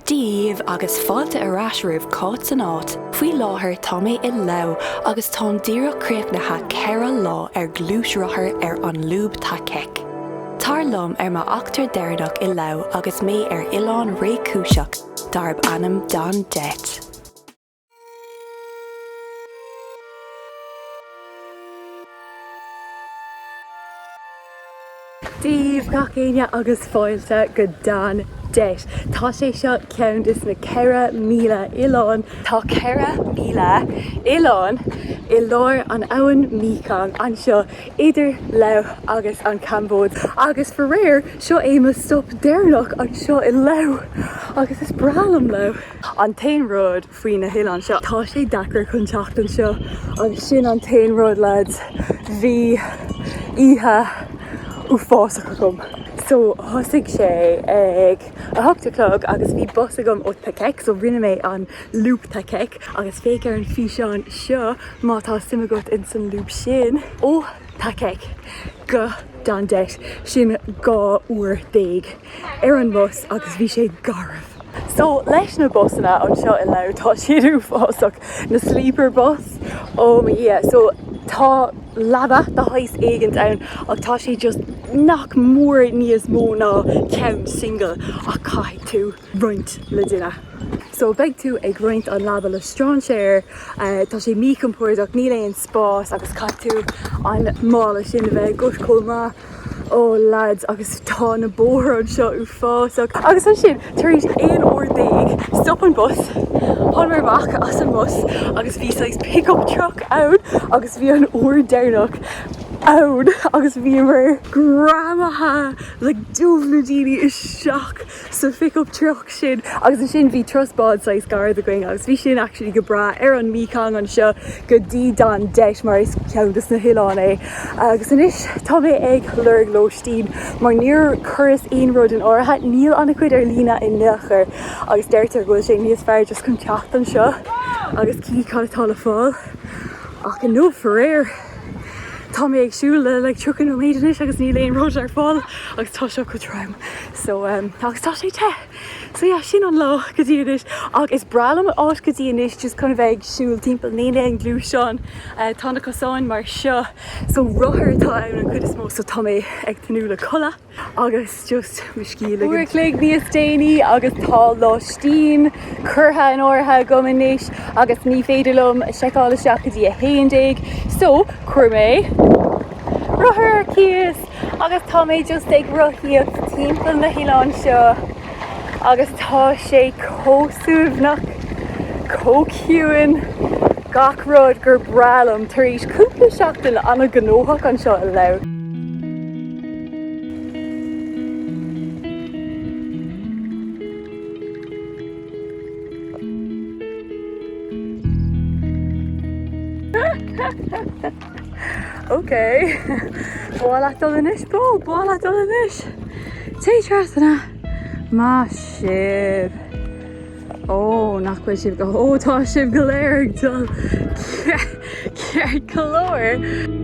Dia daoibh agus fáilte ar ais roimh Cáit san Áit, faoi láthair tá mé i Laos agus táim díreach críochnaithe ceithre lá ar ghluaisrothar ar an Lúb Thakhek. Tar liom ar m'eachtra deireanach i Laos agus mé ar oileán réchúiseach darb ainm Don Det. Dia daoibh gach éinne agus fáilte go Don Det. Tá sé seo ceann des na 4,000 oileán. Tá 4,000 oileán i lár an abhainn Mekong anseo idir Laos agus an Chambóid agus faraor seo é mo stop deireanach anseo i Laos agus is breá liom Laos. An t-aon rud faoi na hoileáin seo. Tá sé deacair chun teacht anseo agus sin an t-aon rud lads, bhí oíche uafásach agam. So thosaigh sé ag a hocht a chlog agus bhí bus agam ó Thakhek so rinne mé an Lúb Thakhek agus féach ar an físeán seo má tá suim agat ins an lúb sin. Ó Thakhek go Don Det sin dhá uair déag. ar an mbus agus bhí sé garbh. So, leis na busanna anseo i Laos, tá siad uafásach, na sleeper bus, oh mo dhia. So, tá leaba de shaghas éigint ann ach tá sé just nach mór níos mó ná ceann single ach caithfidh tú roinnt le daoine. So, beidh tú ag roinnt an leaba le strainséir, tá sé míchompordach, níl aon spás agus caithfidh tú an mála sin a bheith agat chomh maith. Ó lads agus tá na bóithre anseo uafásach agus ansin tar éis 11 uair stop an bus, thángamar amach as an mbus agus bhí saghas pickup truck ann agus bhí an uair deireanach ann agus bhíomar greamaithe le dubh daoine isteach. sa phickup truck sin agus ansin bhí turas báid saghas gairid againn agus bhí sin actually go breá ar an Mekong anseo go dtí Don Det mar is ceann dos na hoileáin é agus anois tá mé ag lorg lóistín mar níor chuireas aon rud in áirithe níl ana chuid ar líne in aon chor agus deirtear go bhfuil sé níos fearr just chun teacht anseo agus chífidh cad atá le fáil ach inniu faraor tá mé ag siúl le 30 nóiméad anois agus níl aon rud ar fáil agus tá seo go trom. So um agus tá sé te. So yeah, sin an lá go dtí anois ach is breá liom an áit go dtí anois just chun a bheith ag siúl timpeall. Níl aon ghluaisteáin, tá na cosáin mar seo so rothair atá ann an chuid is mó so tá mé ag tnúth le codladh agus just mo scíth a ligint. Uair a chloig níos déanaí agus tá lóistín curtha in áirithe agam anois agus ní féidir liom seiceáil isteach go dtí a haon déag so chuir mé rothar ar cíos agus tá mé just ag rothaíocht timpeall na hoileáin seo agus tá sé chomh suaimhneach, chomh ciúin, gach rud gur breá liom tar éis cúpla seachtain an-ghnóthach anseo i Laos. Ok, b'áil leat dul anois, bó? B'áil leat dul anois. Téigh trasna. Maith sibh. Ó, nach bhfuil sibh go, ó tá sibh go léir ag dul ceart go leor.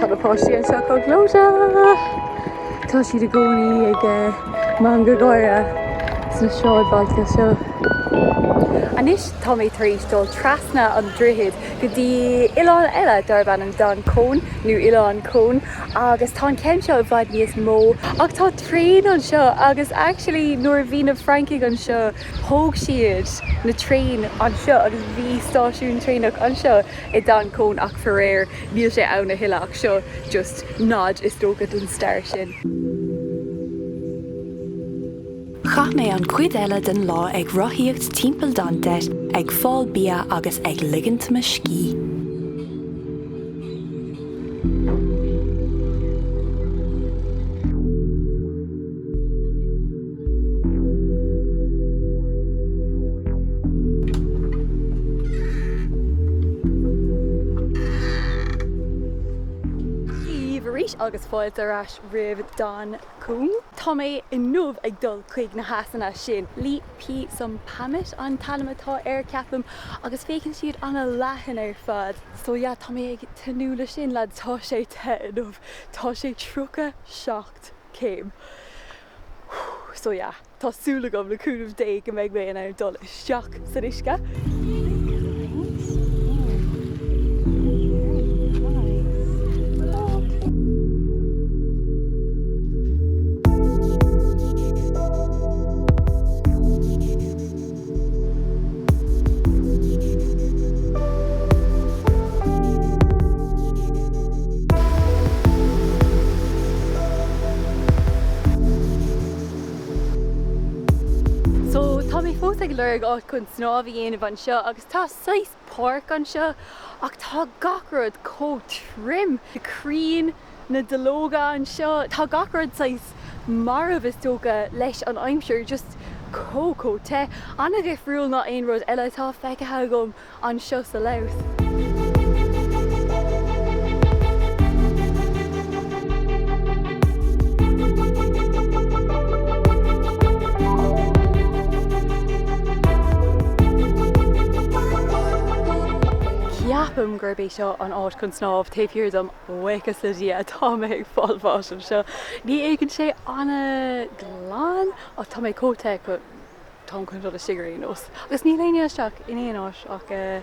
Tá na páistí anseo chomh gleoite! Tá siad i gcónaí ag eh, mangadh gáire sna sráidbhailte seo. Anois tá mé tar éis dul trasna an droichead go dtí oileán eile darb ainm Don Khon, nó Oileán Khon, agus tá an ceann seo i bhfad níos mó. Ach tá traein anseo agus actually nuair a bhí na Francaigh anseo, Thóg siad na traein anseo agus bhí stáisiún traenach anseo i Don Khon ach faraor níl sé ann a thuilleadh ach seo just nod is dócha don stair sin. Chaith mé an chuid eile den lá ag rothaíocht timpeall Don Det, ag fáil bia agus ag ligint mo scíth. Daoibh arís agus fáilte ar ais roimh Don Khon. Tá mé inniu ag dul chuig na heasanna sin, Li Phi Somphamit an t-ainm atá air, ceapaim, agus féachann siad an-leathan ar fad. So yeah, tá mé ag tnúth le sin, lads, tá sé te inniu, tá sé 37 céim. So yeah, tá súil agam, le cúnamh Dé, go mbeidh mé in ann dul isteach san uisce. So, tá mé fós ag lorg áit chun snámh a dhéanamh anseo agus tá saghas páirc anseo ach tá gach rud chomh tirim, críon, na duilleoga anseo, tá gach rud saghas marbh is dócha leis an aimsir, just chomh, chomh te, an-dhifriúil ná aon rud eile atá feicthe agam anseo sa Laos. Ceapaim gurb é seo an áit chun snámh taobh thiar dom, buíochas le Dia tá mé ag fáil bháis anseo. Ní fhéachann sé an-ghlan ach tá mé chomh te go táim chun dul istigh ar aon nós. Agus níl éinne isteach in aon áit ach eh.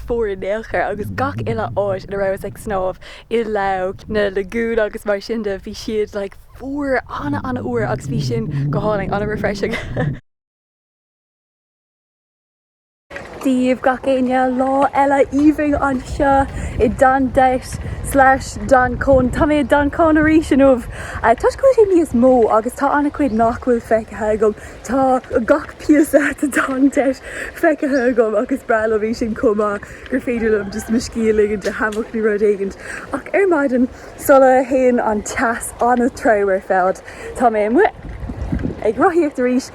fuar in aon chor agus gach uile áit ina rabhas ag snámh, i Laos, na lagoon agus mar sin de, bhí siad like fuar, an-an-fhuar agus bhí sin go hálainn, an-refreshing. Dia daoibh gach éinne lá eile aoibhinn anseo i Don Det slash Don Khon. Tá mé i Don Khon arís inniu, toisc go bhfuil sé níos mó agus tá an-chuid nach bhfuil feicthe agam. Tá gach píosa de Don Det feicthe agam agus is breá liom é sin chomh maith gur féidir liom just mo scíth a ligint i hammock nó rud éigint. Ach ar maidin sula théann an teas an-trom ar fad tá mé amuigh ag rothaíocht arís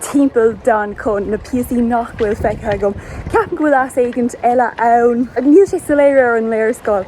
timpeall Don Khon na píosaí nach bhfuil feicthe agam. Ceapaim go bhfuil eas éigint eile ann. Níl sé soiléir ar an léarscáil.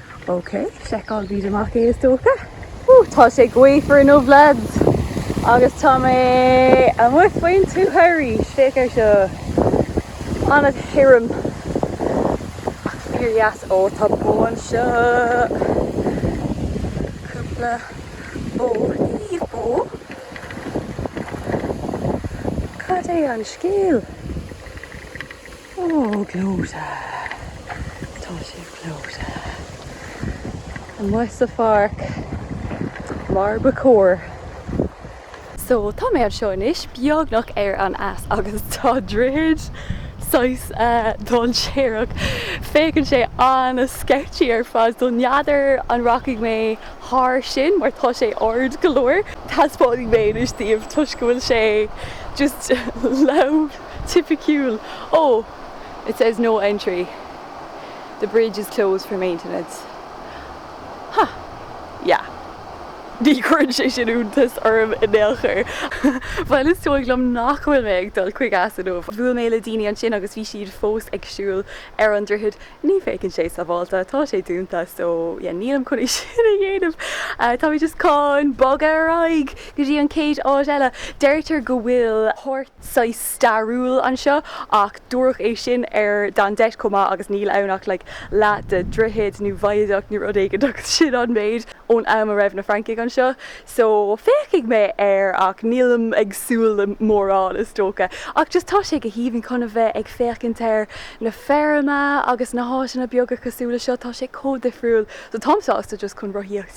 Ok, seiceálfaimid amach é is dócha. Whoo, tá sé gaofar inniu lads agus tá mé amuigh faoin tuath arís, féach ar seo, an-thirim ach fíor dheas, ó tá bó anseo, cúpla bó, naoimh bó, cad é an scéal? Oh, gleoite. Tá sé gleoite. Amuigh sa pháirc, mar ba chóir. So, tá mé anseo anois, beagnach ar an eas, agus tá droichead saghas dainséarach. Féachann sé an-sketchy ar fad, so n'fheadar an rachaidh mé thar sin, mar tá sé ard go leor. Taispeánfaidh mé anois daoibh, toisc go bhfuil sé just Laos. Tipiciúil! Oh! It says no entry. The bridge is closed for maintenance. Huh. Yeah. Ní chuireann sé sin iontas orm in aon chor. Bhuel, is dóigh liom nach bhfuil mé ag dul chuig eas inniu. Bhuail mé le daoine ansin agus bhí siad fós ag siúl ar an droichead. Ní fhéachann sé sábhálta. Tá sé dúnta. So, yeah, nílim chun é sin a dhéanamh. Tá mé just chun bogadh ar aghaidh go dtí an chéad áit eile. Deirtear go bhfuil páirc. saghas stairiúil anseo ach dúradh é sin ar Don Det chomh maith agus níl ann ach like leath de dhroichead nó viaduct nó rud éigin agus sin an méid ón am a raibh na Francaigh anseo so féachfaidh mé air ach nílim ag súil le mórán is dócha ach just tá sé go haoibhinn chun a bheith ag féachaint ar na feirme agus na háiteanna beaga cosúil le seo tá sé chomh difriúil so táim sásta just chun rothaíocht.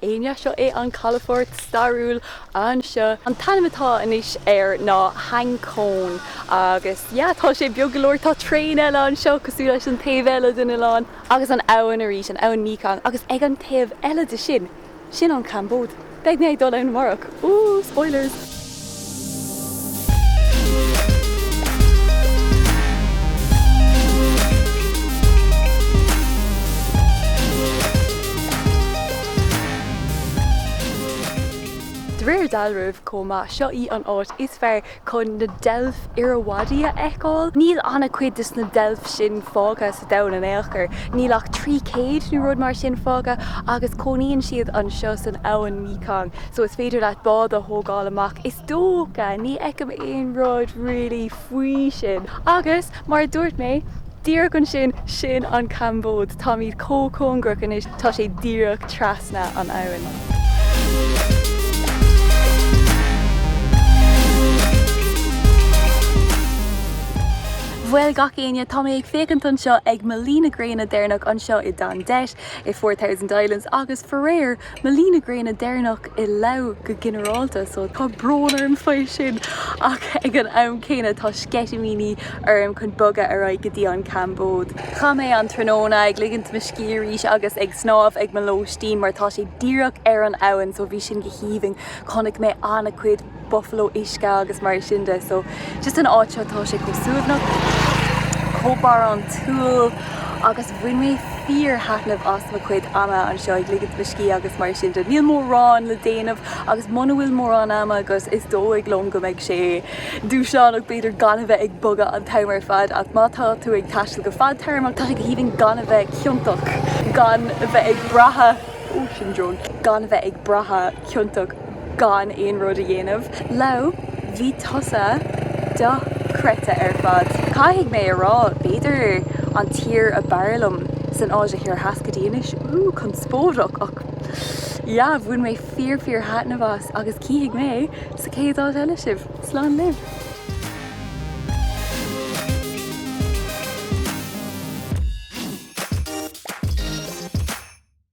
éinne. Seo é an calafort stairiúil anseo. An t-ainm atá anois air ná Hang Khon agus yeah, tá sé beag go leor. Tá traein eile anseo cosúil leis an taobh eile den oileán agus an abhainn arís, an abhainn Mekong agus ag an taobh eile de sin, sin an Chambóid. Beidh mé ag dul ann amárach. Woo! Spoilers! De réir dealraimh chomh maith, seo í an áit is fearr chun na deilf Irrawaddy a fheiceáil. Níl an-chuid des na deilf sin fágtha domhan in aon chor. Níl ach 300 nó rud mar sin fágtha agus cónaíonn siad anseo san abhainn Mekong so is féidir leat bád a thógáil amach is dócha. Ní fheicim aon rud really faoi sin. Agus, mar a dúirt mé, díreach ansin, sin an Chambóid. Táimid chomh cóngarach anois, tá sé díreach trasna an abhainn. Bhuel gach éinne, tá mé ag féachaint anseo ag mo luí na gréine deireanach anseo i Don Det, i Four Thousand Islands agus faraor, mo luí na gréine deireanach i Lao go ginearálta so tá brón orm faoi sin ach ag an am céanna tá sceitimíní orm chun bogadh ar aghaidh go dtí an Chambóid. Chaith mé an tráthnóna ag ligint mo scíth arís agus ag snámh ag mo lóistín mar tá sé díreach ar an abhainn so bhí sin go haoibhinn, chonaic mé an-chuid. buffalo uisce agus mar sin de so just an áit seo tá sé chomh suaimhneach chomh barántúil agus bhain mé fíorthaitneamh as mo chuid ama anseo ag ligint mo scíth agus mar sin de. Níl mórán le déanamh agus muna bhfuil mórán ama agus is dóigh liom go mbeidh sé dúshlánach b'fhéidir gan a bheith ag bogadh an t-am ar fad ach má tá tú ag taisteal go fadtéarmach tá sé go haoibhinn gan a bheith ciontach gan a bheith ag brath, ó sin drone, gan a bheith ag brath ciontach. gan aon rud a dhéanamh. Lao, bhí tusa dochreidte ar fad. Caithfidh mé a rá, b'fhéidir an tír ab fhearr liom san Áise Thoir Theas go dtí anois. Úúú, conspóideach, ach yeah, bhain mé fíor fíor thaitneamh as agus cífidh mé sa chéad áit eile sibh. Slán libh!